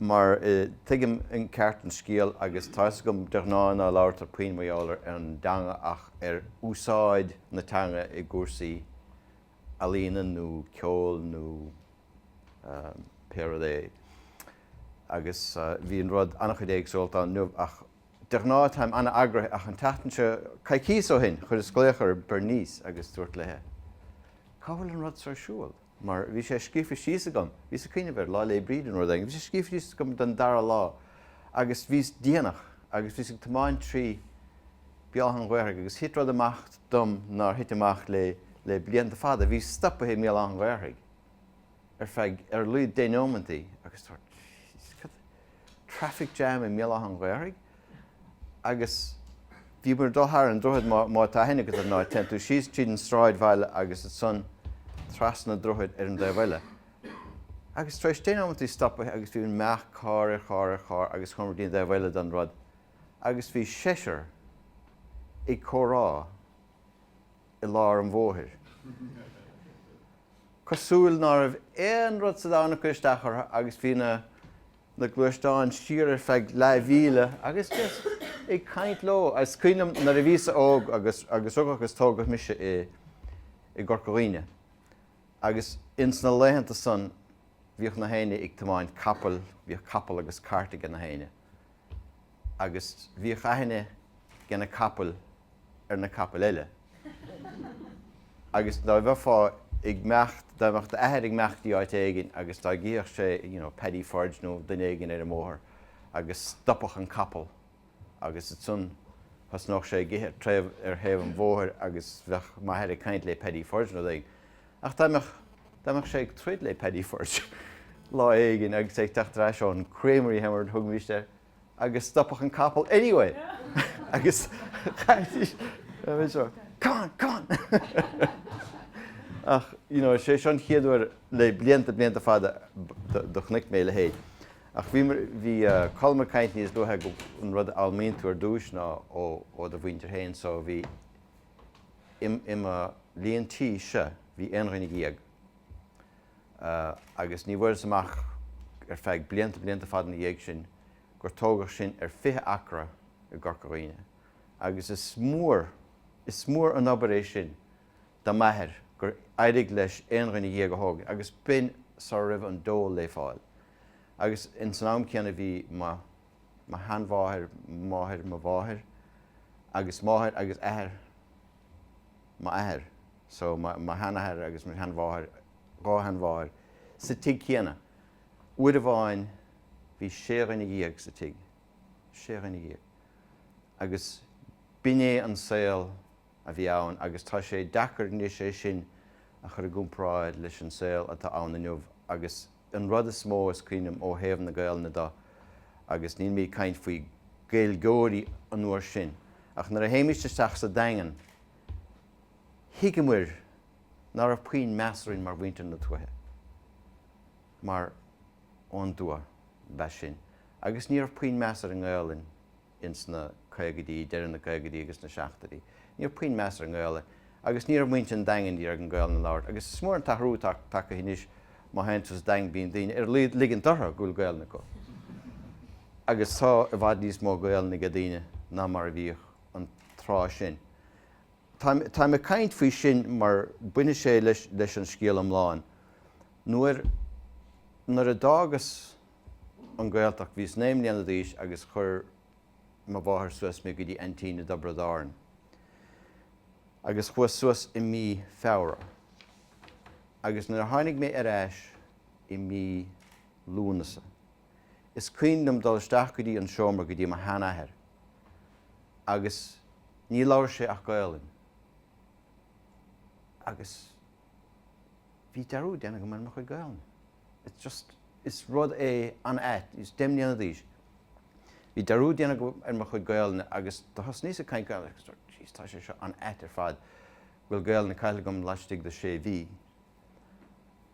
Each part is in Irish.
mar tuigim i gceart an scéal agus tá 'fhios agam de ghnáth ná labhartar puinn mar gheall ar an dteanga ach ar úsáid na teanga i gcúrsaí ealaíne nó ceoil nó pé rud é agus bhí an rud an-chuid éagsúlacht ann inniu ach de ghnáth táim an-eagraithe ach an tseachtain seo, coicíos ó shin, chuireas glaoch ar Bernice agus dúirt léithi Cá bhfuil an rud so ar siúl? mar bhí sé scríofa síos agam, bhíos ag cuimhneamh air, Lá Fhéile Bríde nó rud éigin, bhí sé scríofa síos agam don dara lá agus bhíos déanach agus bhíos ag tiomáint trí Béal Átha an Ghaorthaidh agus thit rud amach dom nár thit amach le, le blianta fada, bhíos stopaithe i mBéal Átha an Ghaorthaidh ar feadh, ar a laghad deich nóimeantaí agus dúirt, Jeez, cad, traffic jam i mBéal Átha an Ghaorthaidh? agus bhíomar ag dul thar an droichead má tá aithne agat ar ndóigh, téann tú síos tríd an sráidbhaile agus ansan trasna an droichid ar an dtaobh eile. Agus tar éis deich nóimeantaí stopaithe agus bhí ag meacht carr ar charr ar charr agus chuamar dtí'n dtaobh eile den rud agus bhí seisear ag comhrá i lár an bhóthair cosúil ná raibh aon rud sa domhan ag cur isteach orthu agus bhí na na gluaisteáin siar ar feadh leathmhíle agus just ag caint leo is cuimhin liom nuair a bhíos-sa óg agus agus rugadh agus tógadh mise i i gCorca Dhuibhne agus ins na laethanta san bhíodh na héinne ag tiomáint capaill, bhíodh capall agus cairt age na héinne agus bhíodh aithne age na capaill ar na capaill eile. Agus dá bheifeá ag meacht, dá mbeadh d'athair ag meacht dtí áit éigin agus dá gcífeadh sé you know Paddy Forde nó duine éigin ar an mbóthar agus stopfadh an capall agus ansan thosnódh sé ag ithe ar thaobh an bhóthair agus bheadh m'athair ag caint lé Paddy Forde nó rud éigin. Ach dá mbeadh, dá mbeadh sé ag troid lé Paddy Forde lá éigin agus é ag teacht ar ais ón creamery mar a thugaimist air, agus stopfadh an capall anyway agus chaithfidís a bheith seo Come on! Come on! Ach you know is é seo an chéad uair le blianta blianta fada do chonaic mé a leithéid. Ach bhí bhí Colm ag caint níos luaithe go an rud a fhoghlaimíonn tú ar dtúis ná ó ó do mhuintir féin so bhí i i mo líon tí-se bhí aon dhuine dhéag agus ní bhfuaireas amach ar feadh blianta blianta fada ina dhiaidh sin gur tógadh sinn ar fiche acra i gCorca Dhuibhne, agus is mór, is mór an obair é sin do m'athair gur éirigh leis aon dhuine dhéag a thógaint, agus b'in sar a raibh an dole lé fáil, agus ins an am céanna bhí mo, mo sheanmháthair, máthair mo mháthair, agus máthair agus athair, m'athair, so mo sheanathair agus mo sheanmháthair, dhá sheanmháthair, sa tigh céanna. Uair amháin bhí sé dhuine dhéag sa tigh, sé dhuine dhéag. Agus b'in é an saol a bhí ann agus tá sé deacair anois é sin a chur i gcomparáid leis an saol atá ann inniu agus, An rud is mó is cuimhin liom ó thaobh na Gaelainne dó, agus níl mé ag caint faoi Gaeilgeoirí an uair sin, ach nuair a théimís isteach sa Daingean thuigeamair ná raibh puinn meas orainn mar mhuintir na tuaithe, mar ón dtuath ab ea sinn, agus ní raibh puinn meas ar an nGaelainn ins na caogaidí, deireadh na gcaogaidí agus na seascaidí. Ní raibh puinn meas ar an nGaelainn agus ní raibh muintir an Daingin ag iarraidh Gaolainn a labhairt agus is mór an t-athrú atá tagtha anois má théann tú sa Daingean bíonn daoine ag ligint orthu go bhfuil Gaolainn acu agus tá i bhfad níos mó Gaolainn age daoine ná mar a bhíodh an tráth sin. Táim ag caint faoi sin mar baineann sé leis an scéal iomlán. Nuair, nuair a d'fhágas an Ghaeltacht. Bhíos naoi mbliana d'aois agus chuir mo mháthair suas mé go dtí aintín i dTiobraid Árann agus chuas suas i mí Feabhra agus nuair a tháinig mé ar ais i mí Lúnasa is cuimhin liom dul isteach go dtí an seomra go dtí mo sheanathair agus níor labhair sé ach Gaolainn agus bhí dearúd déanta agam ar mo chuid Gaolainne. is rud é an-ait is deich mbliana d'aois bhí dearúd déanta agam ar mo chuid Gaolainne agus do thosnaíos ag caint Gaolainn agus dúirt jeez tá sé seo an-ait ar fad bhfuil Gaolainn caillte agam laistigh de sé mhí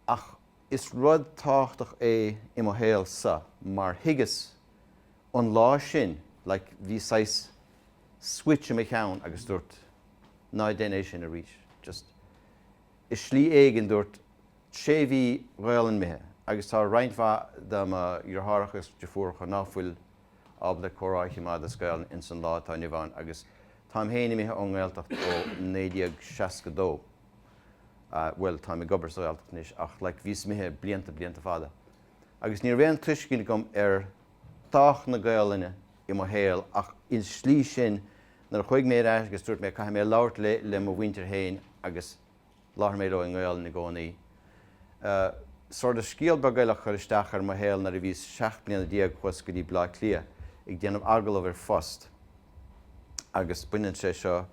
ach is rud tábhachtach é i mo shaolsa mar thuigeas ón lá sin like bhí saghas switch i mo cheann agus dúirt ná déan é sin arís just i slí éigin dúirt Sé mhí Ghaelainn imithe agus tá roinnt mhaith de mo dheartháireacha is deirfiúracha nach bhfuil ábalta comhrá a chimeád as Gaelainn ins an lá atá inniu ann agus táim féin imithe ón nGaeltacht ó 1962. Bhuel, táim ag obair sa Ghaeltacht anois ach like bhíos imithe blianta blianta fada agus ní raibh aon tuiscint agam ar thábhacht na Gaelainne i mo shaol ach insa slí sin nuair a chuaigh mé ar ais agus dúirt mé caithfidh mé labhairt le le mo mhuintir féin agus Labhair mé leo i nGaolainn i gcónaí. Sort of scéal beag eile a chuir isteach ar mo shaol nuair a bhíos seacht mbliana déag chuas go dtí Bleá Cliath ag déanamh agallamh ar phost agus baineann sé seo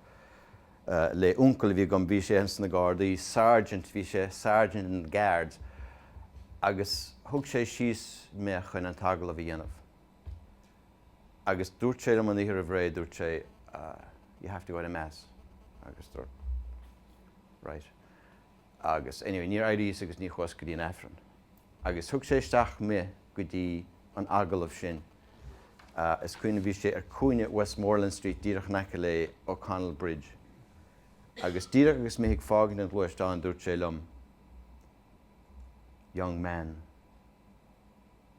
le uncail a bhí agam bhí sé ins na Gardaí sergeant bhí sé sergeant in the guards agus thug sé síos me chun an t-agallamh a dhéanamh. Agus dúirt sé liom an oíche roimh ré, dúirt sé you have to go to Mass agus dúrt right agus anyway níor éiríos agus ní chuas go dtí an Aifreann. Agus thug sé isteach mé go dtí an agallamh sin, is cuimhin liom bhí sé ar chúinne Westmoreland Street díreach in aice le O'Connell Bridge agus díreach agus mé ag fágaint an ghluaisteáin dúirt sé liom young man.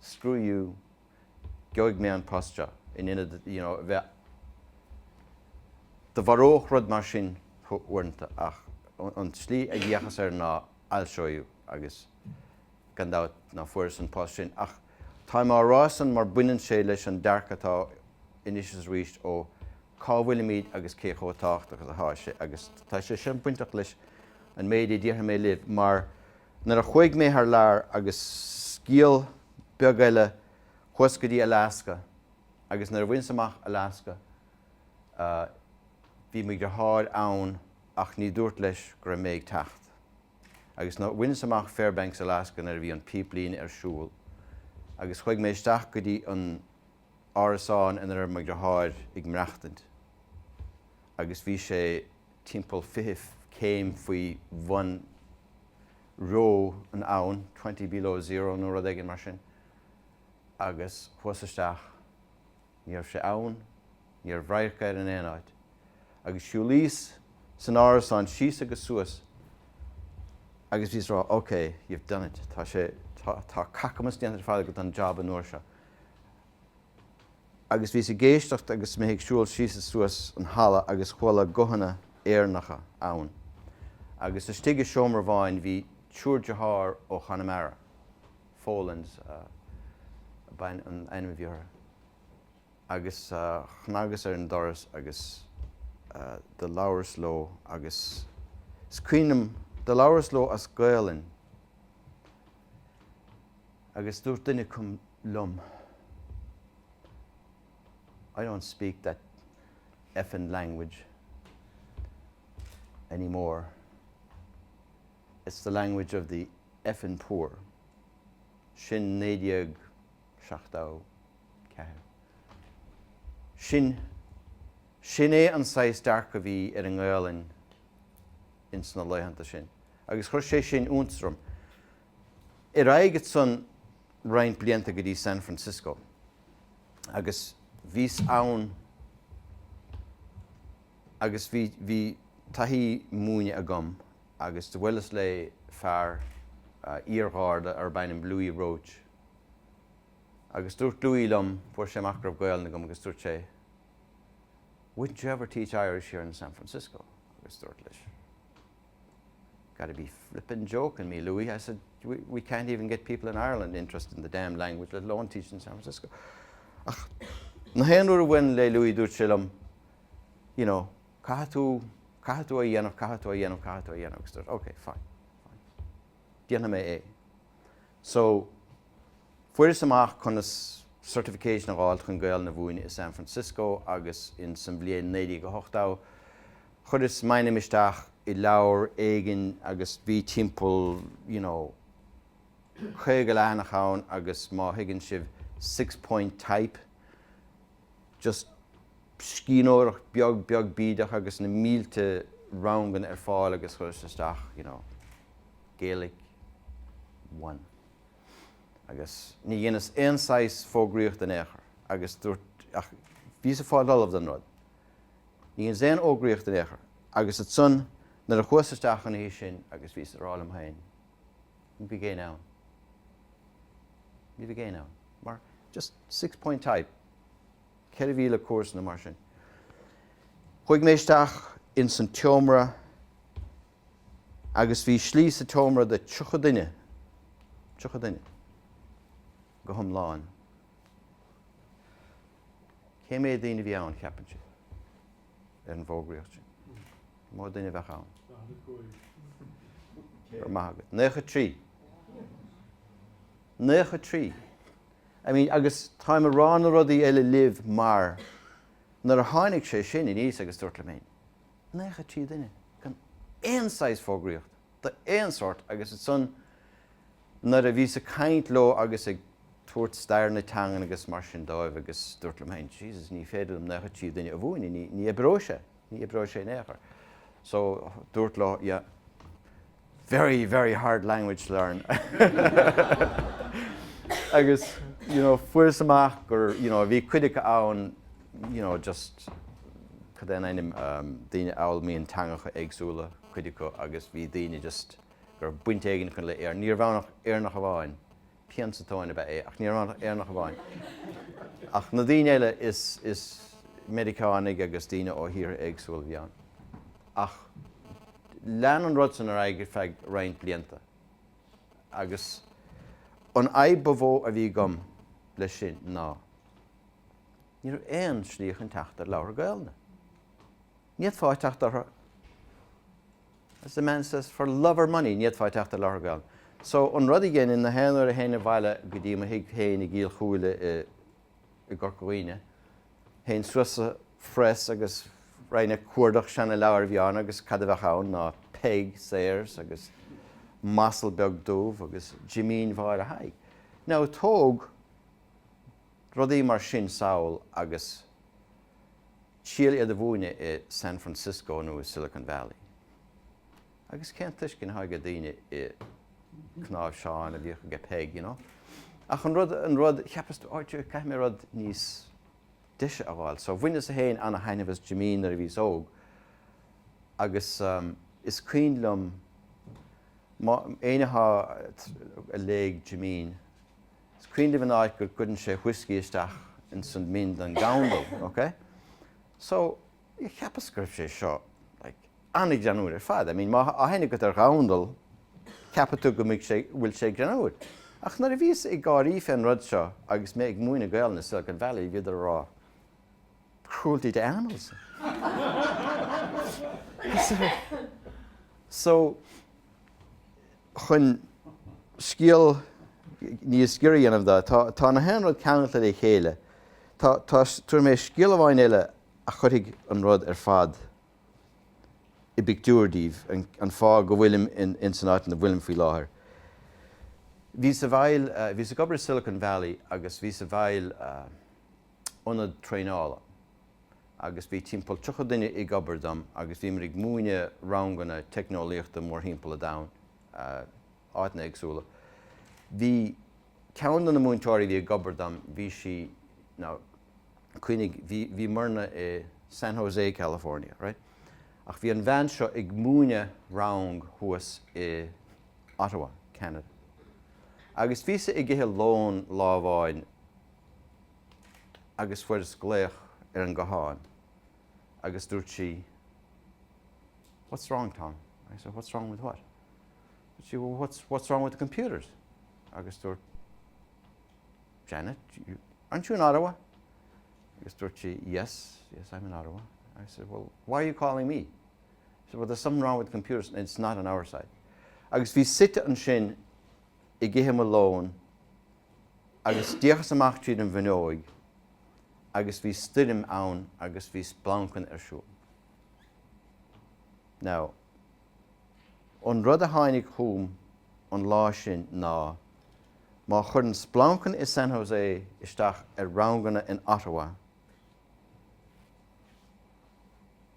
screw you, geobhaidh mé an post seo, in ionad you know a bheith Do mharódh rud mar sin thú uaireanta ach an tslí a d'fhéachas air ná I'll show you agus gan dabht ná fuaireas an post sin ach táim á rá san mar baineann sé leis an dearcadh atá anois arís ó cá bhfuilimid agus cé chomh tábhachtach is atá sé agus tá sé sin bainteach leis an méid a déarfaidh mé libh mar Nuair a chuaigh mé thar lear agus scéal beag eile chuas go dtí Alaska agus nuair a bhaineas amach Alaska bhí mo dheartháir ann ach ní dúrt leis go raibh mé ag teacht agus nuair a bhaineas amach Fairbanks Alaska nuair a bhí an píplíne ar siúl agus chuaigh mé isteach go dtí an árasán ina raibh mo dheartháir ag maireachtaint agus bhí sé timpeall fiche céim faoi bhun reo an t-am san, twenty below zero nó rud éigin mar sin, agus chuas isteach. Ní raibh sé ann, ní raibh radharc air in aon áit. Agus siúlaíos san árasán síos agus suas agus bhíos ag rá, OK, you've done it, tá sé, tá, tá cacamas déanta ar fad den jab an uair seo. agus bhíos ag éisteacht agus mé ag siúl síos is suas an halla agus chuala guthanna Éireannacha ann agus istigh i seomra amháin bhí triúr dearthár ó Chonamara, Folans ab in an ainm a bhí orthu, agus chnagas ar an doras agus do labhras leo agus is cuimhin liom do labhras leo as Gaolainn. Agus dúirt duine acu liom I don't speak that effin language anymore, it's the language of the effin poor. Sin 1974. Sin, sin é an saghas dearcadh a bhí ar an nGaolainn ins na laethanta sin. agus chuir sé sin iontas orm ar aghaidh ansan roinnt blianta go dtí San Francisco agus bhíos ann agus bhí, bhí taithí múineadh agam agus do bhuileas lé fear, iar-Gharda arb ainm Louis Roche agus dúirt Louis liom, fuair sé amach go raibh Gaolainn agam agus dúirt sé wouldn't you ever teach Irish here in San Francisco agus dúrt leis. Gotta be flippin jokin me, Louis, I said, we can't even get people in Ireland interested in the damned language, let alone teach it in San Francisco. Ach, na haon uair a bhain le Louis, dúirt sé liom, you know, caithe tú, caithe tú a dhéanamh, caithe tú a dhéanamh, caithe tú a dhéanamh, agus dúirt, ok, fine, fine. Déanam mé é. So, fuir is amach conas certification a gháil chun gael na bhúine i San Francisco agus in san bhliain 1980, Chuireas m'ainm isteach i leabhar éigin agus bhí timpeall, you know, caoga leathanach ann agus má thuigeann sibh six point type, just scríbhneoireacht beag beag bídeach agus na mílte ranganna ar fáil agus chuireas isteach, you know, Gaelic one agus ní dheineas aon saghas fógraíocht in aon chor agus dúrt, ach bhíos ag fáil ollamh don rud. Ní dheineas aon fhógraíocht in aon chor. Agus ansan nuair a chuas isteach an oíche sin agus bhíos ag rá liom féin, ní bheidh éinne ann. Ní bheidh éinne ann. Mar, just six point type, ceithre mhíle cúrsa nó mar sin. Chuaigh mé isteach ins an tseomra agus bhí slí sa tseomra do tríocha duine, tríocha duine, go hiomlán. Cé mhéad daoine a bhí ann, ceapann sibh, ar an bhfógraíocht sin? Cé mhéad duine a bheadh ann? Go raibh maith agat. Naocha trí. Naocha trí. I mean, agus táim ag rá na rudaí eile libh mar nuair a tháinig sé sin aníos agus dúrt liom féin, naocha trí duine, gan aon saghas fógraíochta. d'aon sórt agus ansan nuair a bhíos ag caint leo agus ag tabhairt stair na teangan agus mar sin dóibh agus dúrt liom féin Jesus ní féidir liom naocha trí duine a mhúineadh, ní, ní oibreoidh sé, ní oibreoidh sé in aon chor. So dúrt leo yeah very, very hard language to learn agus you know fuaireas amach gur you know bhí cuid acu ann you know just cad é an ainm, daoine a fhoghlaimíonn teangacha éagsúla, cuid acu agus bhí daoine just go raibh baint éigin acu le Éirinn. Ní raibh ann ach Éireannach amháin, pian sa tóin ab ea é, ach ní raibh ann ach Éireannach amháin. Ach na daoine eile is, is Meiriceánaigh agus daoine ó thíortha éagsúla a bhí ann. Ach lean an rud san ar aghaidh ar feadh roinnt blianta. Agus an fhadhb ba mhó a bhí agam leis sin ná ní raibh aon slí chun teacht ar leabhar Gaolainne. Ní fhéadfá teacht orthu As the man says, for love or money, ní fhéadfá teacht ar leabhar Gaolainne. So, an rud a dhéanainn na haon uair a théinn abhaile go dtí mo thigh féin i gCill Chúile i i gCorca Dhuibhne, théinn suas sa phress agus raghainn ag cuardach seana leabhair a bhí ann agus cad a bheadh ann ná Peig Sayers agus M'Asal Beag Dubh agus Jimín Mháire Thaidhg. Now, tóg rudaí mar sin sall agus. síl iad a mhúineadh i San Francisco nó i Silicon Valley. Agus cén tuiscint atá aige daoine i gcnáimhseán a bhíodh aige Peig, you know? Ach an rud, an rud, cheapas tú, áit ar caithfidh mé rud níos deise a fháil. So bhaineas-sa féin an-thaitneamh as Jimín nuair a bhíos óg agus is cuimhin liom má, éinne atá, a léigh Jimín is cuimhin libh an áit go gcuireann sé whiskey isteach ins an min don ghandal, ok? So, cheapas go raibh sé seo like an-ghreannúr ar fad, I mean má tá aithne agat ar ghandal, ceapfaidh tú go mbeidh sé, go bhfuil sé greannúr. Ach nuair a bhíos ag gáirí fén rud seo agus mé ag múineadh Gaolainne i Silicon Valley, bhíodar a rá, cruelty to animals. So, chun scéal níos giorra a dhéanamh de, tá na haon rud ceangailte le chéile. Tabharfaidh mé scéal amháin eile a chuirfidh an rud ar fad i bpictiúr daoibh, an fáth go bhfuilim ins an áit ina bhfuilim faoi láthair. Bhíos i bhfeighil, bhíos ag obair i Silicon Valley agus bhíos i bhfeighil, ionad traenála agus bhí timpeall 30 duine ag obair dom agus bhíomar ag múineadh ranganna teicneolaíochta mórthimpeall an domhain, áiteanna éagsúla. Bhí ceann de na múinteoirí a bhí ag obair dom, bhí sí, now cuimhnigh, bhí, bhíomarna i San Jose, California, right? Ach bhí an bhean seo ag múineadh rang thuas i Ottawa, Ceanada. Agus bhíosa ag ithe lón lá amháin, agus fuaireas glaoch ar an ghuthán agus dúirt sí What's wrong, Tom? I said What's wrong with what? Dúirt sí Well, what's, what's wrong with the computers? Agus dúirt Janet, you, aren't you in Ottawa? Agus dúirt sí Yes, yes, I'm in Ottawa. I said Well, why are you calling me? She said Well, there's something wrong with the computers and it's not on our side. Agus bhí suite ansin i gcithe mo lón Agus d'fhéachas amach tríd an bhfuinneoig agus bhí stoirm ann agus bhí splancan ar siúl. Now, an rud a tháinig chugam an lá sin ná, má chuireann splancan i San Jose isteach ar ranganna in Ottawa,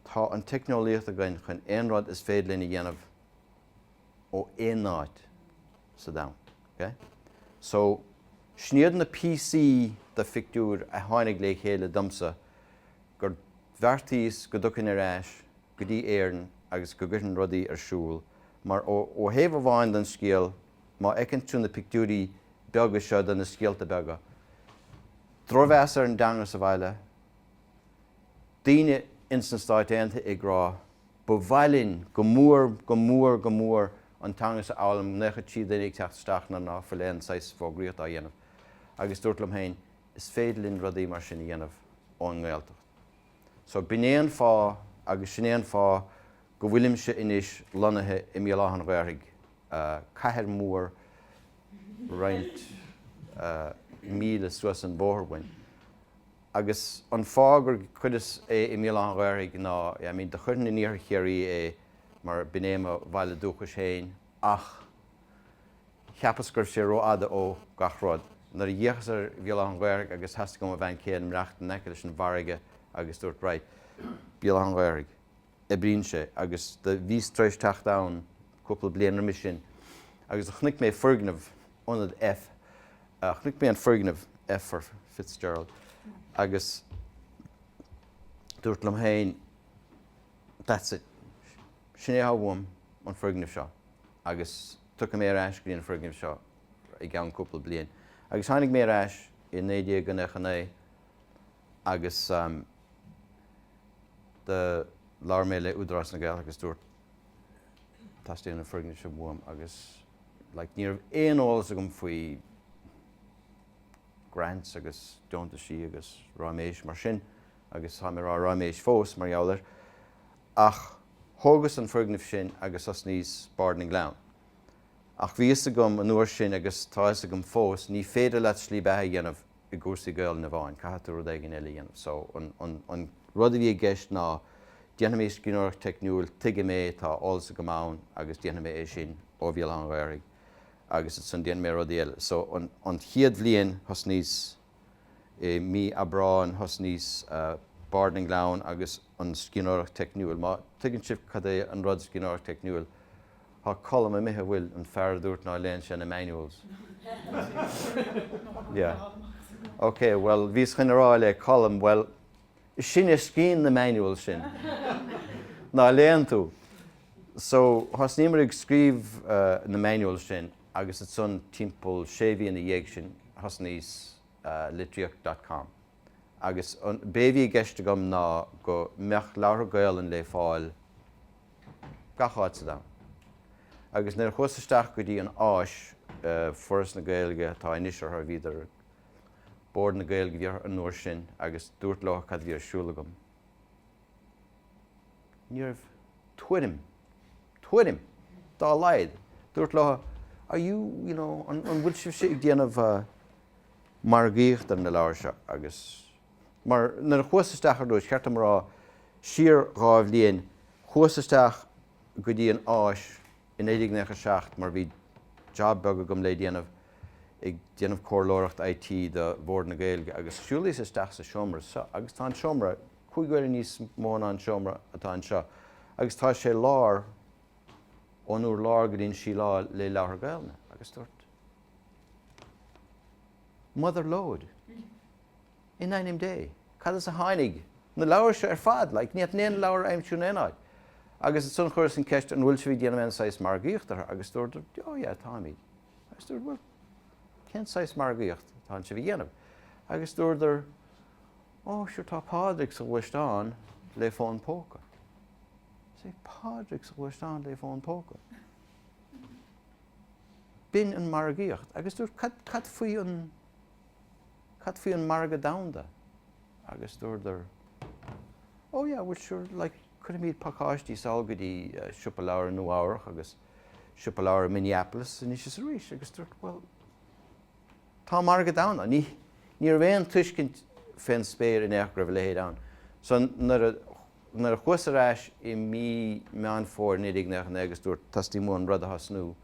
tá an teicneolaíocht againn chun aon rud is féidir linn a dhéanamh. ó aon áit sa domhan. Ok? So, sin iad na píosaí de phictiúir a tháinig le chéile domsa gur bheartaíos go dtiocfainn ar ais go dtí Éirinn agus go gcuirfinn rudaí ar siúl mar ó thaobh amháin den scéal má fheiceann tú na pictiúirí beaga seo de na scéalta beaga, drochmheas ar an dteanga sa bhaile, daoine ins na Stáit Aontaithe ag rá Ba mhaith linn go mór, go mór, go mór an teanga seo a fhoghlaim, naocha trí duine ag teacht isteach nuair ná fuil aon saghas fógraíochta á dhéanamh. Agus dúirt liom féin, is féidir linn rudaí mar sin a dhéanamh ón nGaeltacht. So b'in é an fáth agus sin é an fáth go bhfuilimse anois lonnaithe i mBéal Átha'n Ghaorthaidh, cathair mhór roinnt míle suas an bóthar uainn. Agus an fáth gur chuireas é i mBéal Átha an Ghaorthaidh ná, I mean, do chuirfinn in iarthar Chiarraí é mar b'in é mo bhaile dúchais féin ach cheapas go raibh sé rófhada ó gach rud. Nuair a d'fhéachas ar Bhéal Átha an Ghaorthaidh agus theastaigh ó mo bhean chéile imeacht in aice leis an bhfarraige agus dúirt, right, Béal Átha an Ghaorthaidh. oibríonn sé, agus do bhíos tar éis teacht ann cúpla bliain roimis sin, agus do chonaic mé foirgneamh Ionad F. Chonaic mé an foirgneamh F for Fitzgerald, agus dúirt liom féin, That's it. Sin é atá uaim, an foirgneamh seo, agus tiocfaidh mé ar ais go dtí an foirgneamh seo i gceann cúpla bliain. Agus tháinig mé ar ais i 1999. Agus do labhair mé le Údarás na Gaeltachta agus dúirt teastaíonn an foirgneamh seo uaim agus like ní raibh aon eolas agam faoi grants agus deontaisí agus ráiméis mar sin agus táim ag rá ráiméis fós mar gheall air ach thógas an foirgneamh sin agus thosnaíos Bard na nGleann. Ach bhí fhios agam an uair sin agus tá fhios agam fós, ní féidir leat slí beatha a dhéanamh i gcúrsaí Gaolainne amháin, caithfidh tú rud éigin eile a dhéanamh. So, an rud a bhí i gceist ná, déanfaidh mé scríbhneoireacht teicniúil, tuigeann mé, tá eolas agam ann agus déanfaidh mé é sin ó Bhéal Átha'n Ghaorthaidh agus ansan déanfaidh mé rudaí eile. So, an chéad bhliain, thosnaíos i mí Aibreáin, thosnaíos Bard na nGleann agus an scríbhneoireacht teicniúil. Má tuigeann sibh cad é an rud scríbhneoireacht teicniúil, Tá Colm imithe, a bhfuil, an fear a dúirt ná léann sé na Manuals. Yeah. Ok, bhuel, bhíos chun a rá le Colm, bhuel, sin é toisc na Manuals sin. Ná léann tú. So, thosnaíomar ag scríobh na Manuals sin agus ansan timpeall sé mhí ina dhiaidh sin, thosnaíos Litríocht dot com. Agus b'é bhí i gceist agam ná go mbeadh Leabhartha Gaolainn le fáil, gach áit ar domhan. Agus nuair a chuas isteach go dtí an Áis, Foras na Gaeilge atá anois orthu, bhíodar, Bord na Gaeilge a bhí orthu an uair sin, agus dúirt leo cad a bhí ar siúl agam, ní raibh tuairim, tuairim dá laghad, dúirt leo are you, you know, an bhfuil sibh ag déanamh margaíocht ar na leabhair seo agus. Mar nuair a chuas isteach ar dtúis, cheart dom a rá, siar dhá bhliain, chuas isteach go dtí an áis i 1997 mar bhí jab beag agam le déanamh ag déanamh comhairleoireacht IT do Bhord na Gaeilge agus shiúlaíos isteach sa seomra seo agus tá an seomra cúig uaire níos mó ná an seomra atá anseo agus tá sé lán ón úrlár go dtí an síleáil le leabhartha Gaolainne agus dúirt. Mother lode. In ainm Dé, cad as a tháinig na leabhair seo ar fad? Like, ní fhéadfá aon leabhar a aimsiú in aon áit. Agus ansan chuireas an ceist, an bhfuil sibh ag déanamh aon saghas margaíocht orthu? Agus dúradar, oh yeah, táimid. Agus dúirt, bhuel, cén saghas margaíocht atá sibh a dhéanamh? Agus dúradar, oh, sure, tá Pádraig sa ghluaisteán le fón póca. 'Sé Pádraig sa ghluaisteán le fón póca. B'in an mhargaíocht. Agus dúirt, cad, cad faoi an, cad faoi an margadh domhanda? Agus dúradar, oh yeah, bhuel sure, like, cuirimid pacáistí sall go dtí siopa leabhar i Nua-Eabhrach agus siopa leabhar i Minneapolis anois is arís. Agus dúirt, bhuel, tá an margadh domhanda ann. Ní, ní raibh aon tuiscint fén spéir in aon chor go raibh a leithéid ann. So nuair a Nuair a chuas ar ais i mí Meán Fómhair 1999 agus dúirt, teastaíonn uaim an rud a thosnú,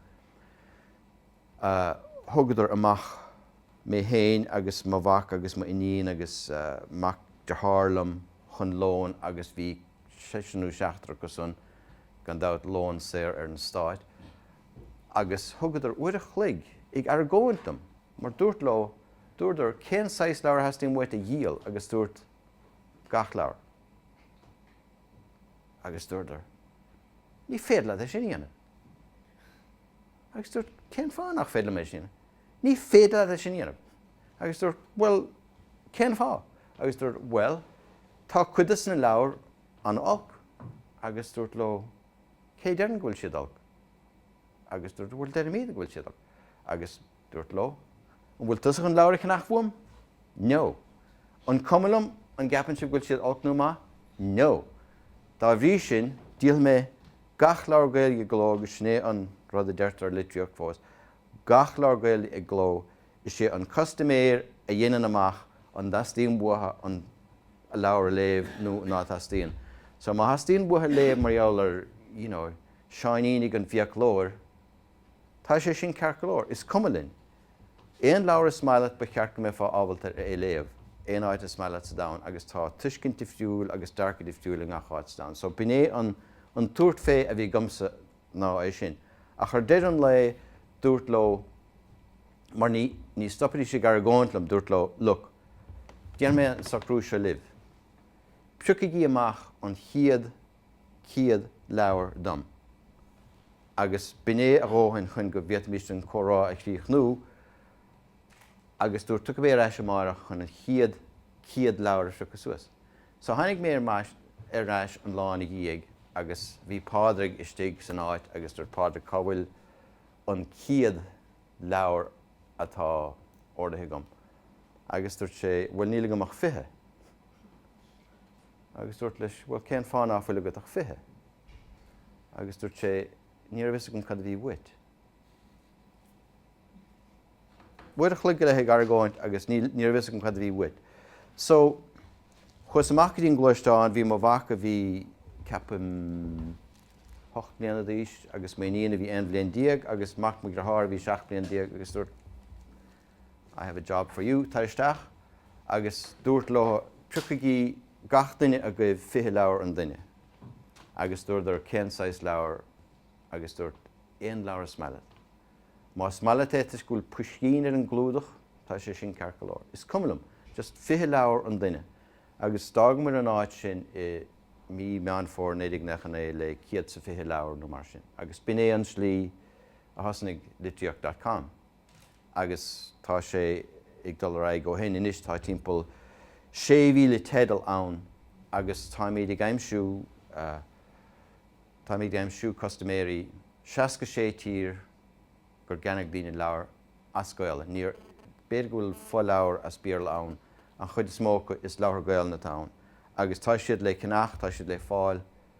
thugadar amach mé féin agus mo mhac agus m'iníon agus mac dearthár liom chun lóin agus bhí seisear nó seachtar acu san, gan dabht, lón saor ar an Stát. Agus thugadar uair a chloig ag argóint liom mar dúrt leo, dúradar, cén saghas leabhar a theastaíonn uait a dhíol agus dúrt, gach leabhar. Agus dúradar, Ní féidir leat é sin a dhéanamh. Agus dúirt, Cén fáth nach féidir liom é sin a dhéanamh? Ní féidir leat é sin a dhéanamh. Agus dúirt, Bhuel, cén fáth? Agus dúradar, Bhuel, tá cuid de sna leabhair an-olc. Agus dúirt leo, Cé a deireann go bhfuil siad olc? Agus dúradar, Bhuel, deirimíd go bhfuil siad olc. Agus. Dúirt Leo, An bhfuil tusa chun leabhair a cheannach uaim? No. An cuma liom an gceapann sibh go bhfuil siad olc nó maith? No. Dá bhrí sin, díolfaidh mé gach leabhar Gaeilge i gcló agus sin é an rud a deirtear i litríocht fós, gach leabhar Gaeilge i gcló, is é an custaiméir a dhéanann amach an dteastaíonn uathu an leabhar a léamh nó ná teastaíonn. So má theastaíonn uathu léamh mar gheall ar, you know, Seáinín ag an bhfiaclóir, Tá sé sin ceart go leor. Is cuma linn. Aon leabhar is maith leat ba cheart go mbeifeá ábalta ar é a léamh aon áit is maith leat sa domhan agus tá tuiscint difriúil agus dearcadh difriúil i ngach áit sa domhan so b'in é an an tabhairt fé a bhí agamsa ná é sin. Ach ar deireadh an lae dúrt leo mar ní ní stopfaidís ag argóint liom, dúrt leo look, déanfaidh mé an socrú seo libh, priocaigí amach an chéad chéad leabhar dom, agus b'in é a dhóthain chun go bhféadfaimis an comhrá a chríochnú, agus dúirt, Tiocfaidh mé ar ais amárach chun an chéad chéad leabhar a phiocadh suas. So tháinig mé ar ais an lá ina dhiaidh agus bhí Pádraig istigh san áit agus dúirt Pádraig, cá bhfuil an céad leabhar atá ordaithe agam? Agus dúirt sé, bhuel, níl agam ach fiche. agus dúirt leis, Bhuel, cén fáth ná fuil agat ach fiche? Agus dúirt sé, Ní raibh fhios agam cad a bhí uait. Uair a chloig go leith ag argóint agus ní raibh fhios agam cad a bhí uait. So chuas amach go dtí an gluaisteán, bhí mo mhac a bhí ceapaim ocht mbliana d'aois agus m'iníon a bhí aon bhliain déag agus mac mo dhearthár a bhí seacht mbliain déag agus dúirt I have a job for you, tar isteach agus dúirt leo, Priocaigí gach duine agaibh fiche leabhar an duine. Agus dúradar, Cén saghas leabhar? Agus dúirt, Aon leabhar is maith leat. Más maith leat é toisc go bhfuil puiscín ar an gclúdach, tá sé sin ceart go leor. Is cuma liom. Just fiche leabhar an duine. Agus d'fhágamair an áit sin i mí Meán Fómhair 1999 le céad is fiche leabhar nó mar sin. Agus b'in é an slí a thosnaigh Litríocht dot com. agus tá sé ag dul ar aghaidh ó shin. Anois tá timpeall 6,000 teideal ann agus táimid ag aimsiú táimid ag aimsiú custaiméirí 60 sé thír gur cheannaigh daoine leabhair as Gaolainn. Níor, b'fhéidir go bhfuil fo-leabhar as Béarla ann, an chuid is mó acu is leabhartha Gaolainne atá ann agus tá siad le ceannacht, tá siad le fáil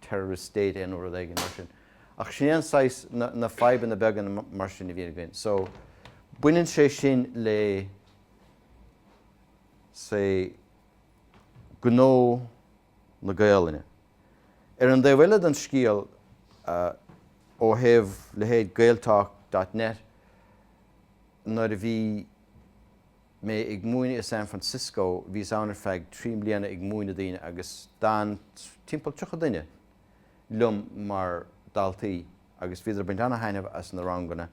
terrorist state é nó rud éigin mar sin. Ach sin é an saghas, na fadhbanna beaga mar sin a bhíonn againn. So, baineann sé sin le, say, gnó na Gaolainne. Ar an dtaobh eile don scéal, ó thaobh leithéid Gaeltalk dot net, nuair a bhí, mé ag múineadh i San Francisco, bhíos ann ar feadh trí mbliana ag múineadh daoine agus d'fhan timpeall tríocha duine liom mar daltaí agus bhíodar ag baint ana-thaitneamh as na ranganna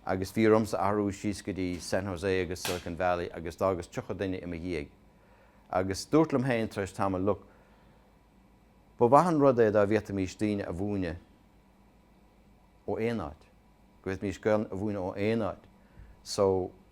agus bhí ormsa athrú síos go dtí San Jose agus Silicon Valley agus d'fhágas tríocha duine i mo dhiaidh agus dúrt liom féin tar éis tamaill, look, ba mhaith an rud é dá bhféadfaimís daoine a mhúineadh ó aon áit, go bhféadfaimís Gaolainn a mhúineadh ó aon áit, so,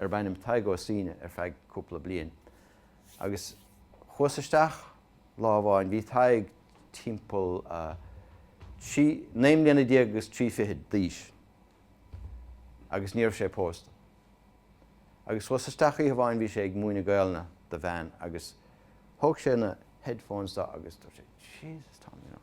arbh ainm Tadhg Ó Suíne ar feadh cúpla bliain agus chuas isteach lá amháin, bhí Tadhg timpeall trí, naoi mbliana déag agus trí fichid d'aois agus ní raibh sé pósta. Agus chuas isteach oíche amháin, bhí sé ag múineadh Gaolainne do bhean agus thóg sé na headphones de agus dúirt sé, Jesus Tom, you know.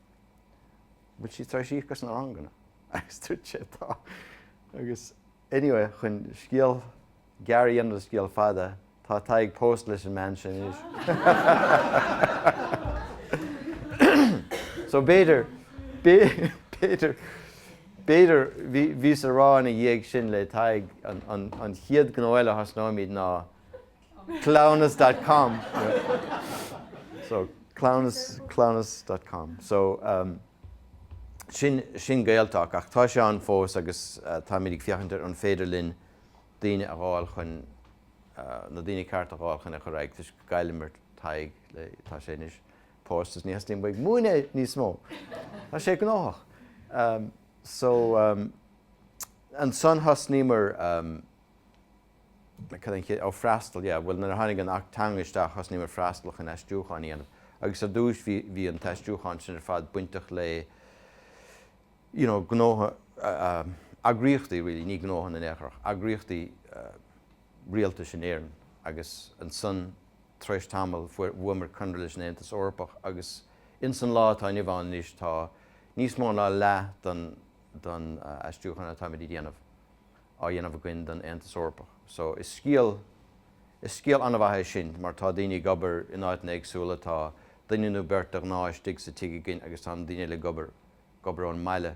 An bhfuil sí tar éis íoc as na ranganna agus dúirt sé, Tá. Agus, anyway, chun scéal gearr a dhéanamh de scéal fada, tá Tadhg pósta leis an mbean sin anois. So b'fhéidir, b'fhéidir, b'fhéidir, bhí, bhíos ag rá ina dhiaidh sin le Tadhg, an, an, an chéad gnó eile a thosnóimid ná cleamhnas dot com so cleamhnas cleamhnas dot com so sin sin Gaeltalk ach tá sé ann fós agus táimid ag féachaint ar an féidir linn daoine a dh'fháil chun na daoine cearta a dh'fháil chun é a chur ar aghaidh toisc gur chailleamair Tadhg le tá sé anois pósta is ní theastaíonn uaidh a bheith ag múineadh níos mó tá sé gnóthach so ansan thosnaíomar cad é an chéad, oh freastal, yeah, bhuel nuair a tháinig an tAcht Teanga isteach thosnaíomar Freastal chun aistriúcháin a dhéanamh agus ar dtús bhí, bhí an t-aistriúchán sin ar fad bainteach le you know gnótha, eagraíochtaí really, ní gnótha in aon chor ach eagraíochtaí rialtais in Éirinn agus ansan tar éis tamaill fuair, bhuamar conradh leis an Aontas Eorpach agus ins an lá atá inniu ann anois tá níos mó ná leath den, den aistriúchán atáimid a dhéanamh. á dhéanamh againn don Aontas Eorpach. So, is scéal, is scéal an-mhaith é sin mar tá daoine ag obair in áiteanna éagsúla, tá duine nó beirt de ghnáth istigh sa tigh againn agus tá na daoine eile ag obair, ag obair ón mbaile.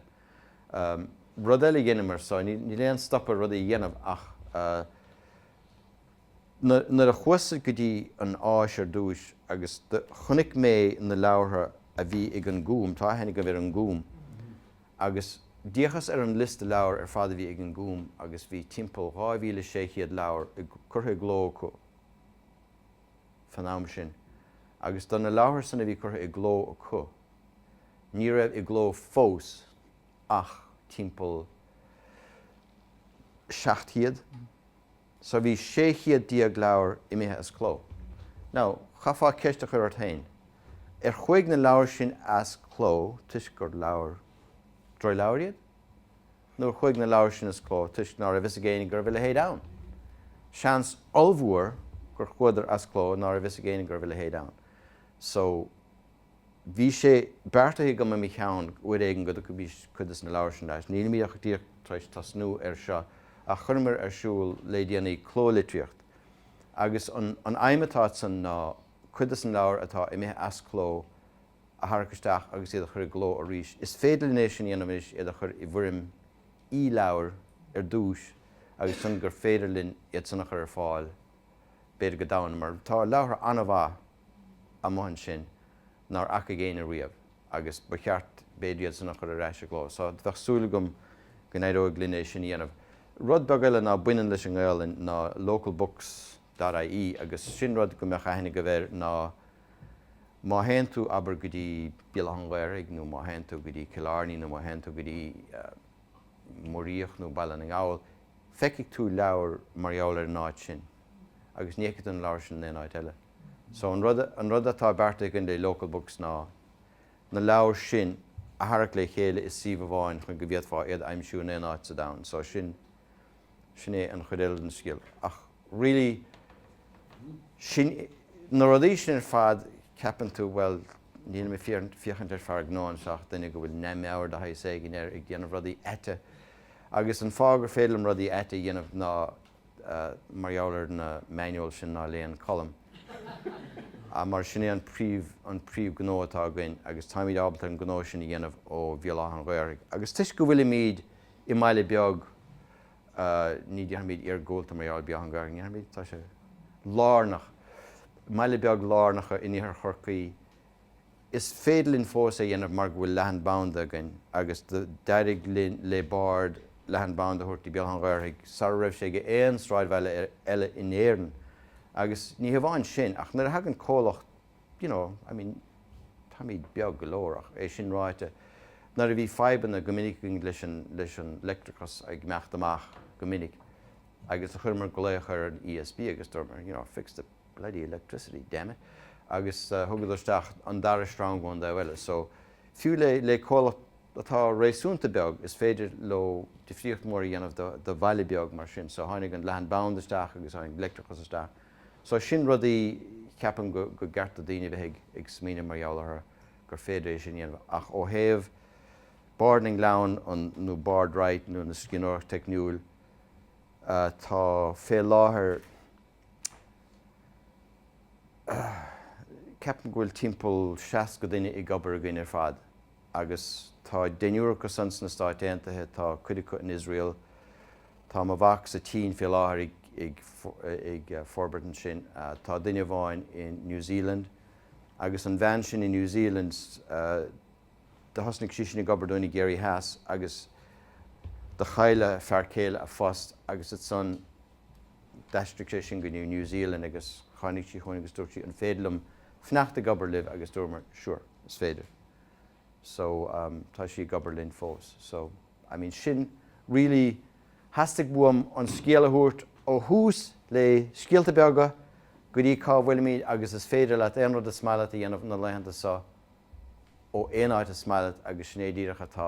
Rud eile a dheineamar, so níl aon stop ar rudaí a dhéanamh ach na, nuair a chuas sa, go dtí an Áis ar dtús agus do, chonaic mé na leabhartha a bhí ag an Gúm, tá aithne agaibh ar an Gúm, agus d'fhéachas ar an liosta leabhar ar fad a bhí ag an Gúm agus bhí timpeall 2,600 leabhar curtha i gcló acu fan am sin agus do na leabhartha san a bhí curtha i gcló acu ní raibh i gcló fós ach timpeall 700. so bhí sé chéad déag leabhar imithe as cló. Now, chaithfeá ceist a chur ort féin, ar chuaigh na leabhair sin as cló toisc gur leabhair, droch-leabhair iad? Nó ar chuaigh na leabhair sin as cló toisc ná raibh fhios ag éinne go raibh a leithéid ann? Seans ollmhór gur chuadar as cló ná raibh fhios ag éinne go raibh a leithéid ann. So. Bhí sé beartaithe agam i mo cheann uair éigin go dtabharfaí cuid de na leabhair sin ar ais. Nílimid ach díreach tar éis tosnú air seo ach chuireamar ar siúl le déanaí Cló Litríocht agus an aidhm atá ansan ná cuid de na leabhair atá imithe as cló a tharrac isteach agus iad a chur i gcló arís. Is féidir linn é sin a dhéanamh anois, iad a chur i bhfoirm e-leabhair ar dtús agus ansan gur féidir linn iad san a chur ar fáil b'fhéidir go domhanda mar tá leabhartha an-mhaith amuigh ansin nár fhacaigh éinne riamh agus ba cheart, b'fhéidir, iad san a chur ar ais i gcló. So, bheadh súil agam go n-éireoidh linn é sin a dhéanamh. Rud beag eile ná baineann leis an nGaelainn ná localbooks.ie agus sin rud go mbeadh aithne agaibh air má théann tú, abair, go dtí Béal Átha an Ghaorthaidh nó má théann tú go dtí Cill Airne nó má théann tú go dtí. Muiríoch nó Baile na nGall, feicfidh tú leabhar mar gheall ar an áit sin agus ní fheicfidh tú an leabhar sin in aon áit eile. So an rud, an rud atá beartaithe againn le Local Books ná na leabhair sin a tharrac le chéile i suíomh amháin chun go bhféadfá iad a aimsiú in aon áit sa domhan. So sin. Sin é an chuid eile den scéal. Ach really, sin, na rudaí sin ar fad, ceapann tú, bhuel, nílim ag féachaint ar fear gnó anseo ach duine go bhfuil neamh-mheabhair de shaghas éigin air ag déanamh rudaí aite. Agus an fáth gur féidir liom rudaí aite a dhéanamh ná mar gheall ar na manuals sin ná léann Colm. Mar sin é an príomh gnó atá againn agus táimid ábalta an gnó sin a dhéanamh ó Bhéal Átha an Ghaorthaidh. Agus toisc go bhfuilimid. i mbaile beag ní déarfaimid iargúlta mar gheall ar Bhéal Átha an Ghaorthaidh, ní déarfaimid, tá sé lárnach, i mbaile beag lárnach in iarthar Chorcaí Is féidir linn fós é dhéanamh mar go bhfuil leathan banda againn agus d'éirigh le Bárd leathan banda a thabhairt go dtí Béal Átha an Ghaorthaidh sara raibh sé ag aon sráidbhaile eile in Éirinn agus ní hamháin sin ach nuair a thagann comhlacht you know, I mean, táimid beag go leor ach, é sin ráite, nuair a bhí fadhbanna go minic againn leis an, leis an leictreachas ag imeacht amach go minic agus chuireamar glaoch ar an ESB agus dúramar, you know, fix the bloody electricity, damn it, agus thugadar isteach an dara sreang ón dtaobh eile. So, fiú le, le comhlacht atá réasúnta beag, is féidir leo difríocht mhór a dhéanamh do, do bhaile beag mar sin. So tháinig an leathanband isteach agus tháinig leictreachas isteach. So sin rudaí ceapaim go gceart do daoine a bheith ag smaoineamh mar gheall orthu, gur féidir é sin a dhéanamh. Ach ó thaobh Bárd na nGleann nó Bárd Write nó na scríbhneoireacht teicniúil atá fé láthair, ceapaim go bhfuil timpeall seasca duine ag obair againn ar fad. Agus tá deichniúr acu san sna Stáit Aontaithe, tá cuid acu in Iosrael, tá mo mhac sa tSín fé láthair ag forbairt ansin, tá duine amháin in New Zealand. Agus an bhean sin in New Zealand, do thosnaigh sí sin ag obair dúinn i gCiarraí Theas agus do chaill a fear céile a phost agus ansan, D'aistrigh sé sin go New New Zealand agus tháinig sí chugainn agus dúirt sí, an féidir liom fanacht ag obair libh agus dúramar, sure, is féidir. So, um tá sí ag obair linn fós. So, I mean sin really, theastaigh uaim an scéal a thabhairt ó thús le scéalta beaga go dtí cá bhfuilimid agus is féidir leat aon rud is maith leat a dhéanamh na laethanta seo ó aon áit is maith leat agus sin é díreach atá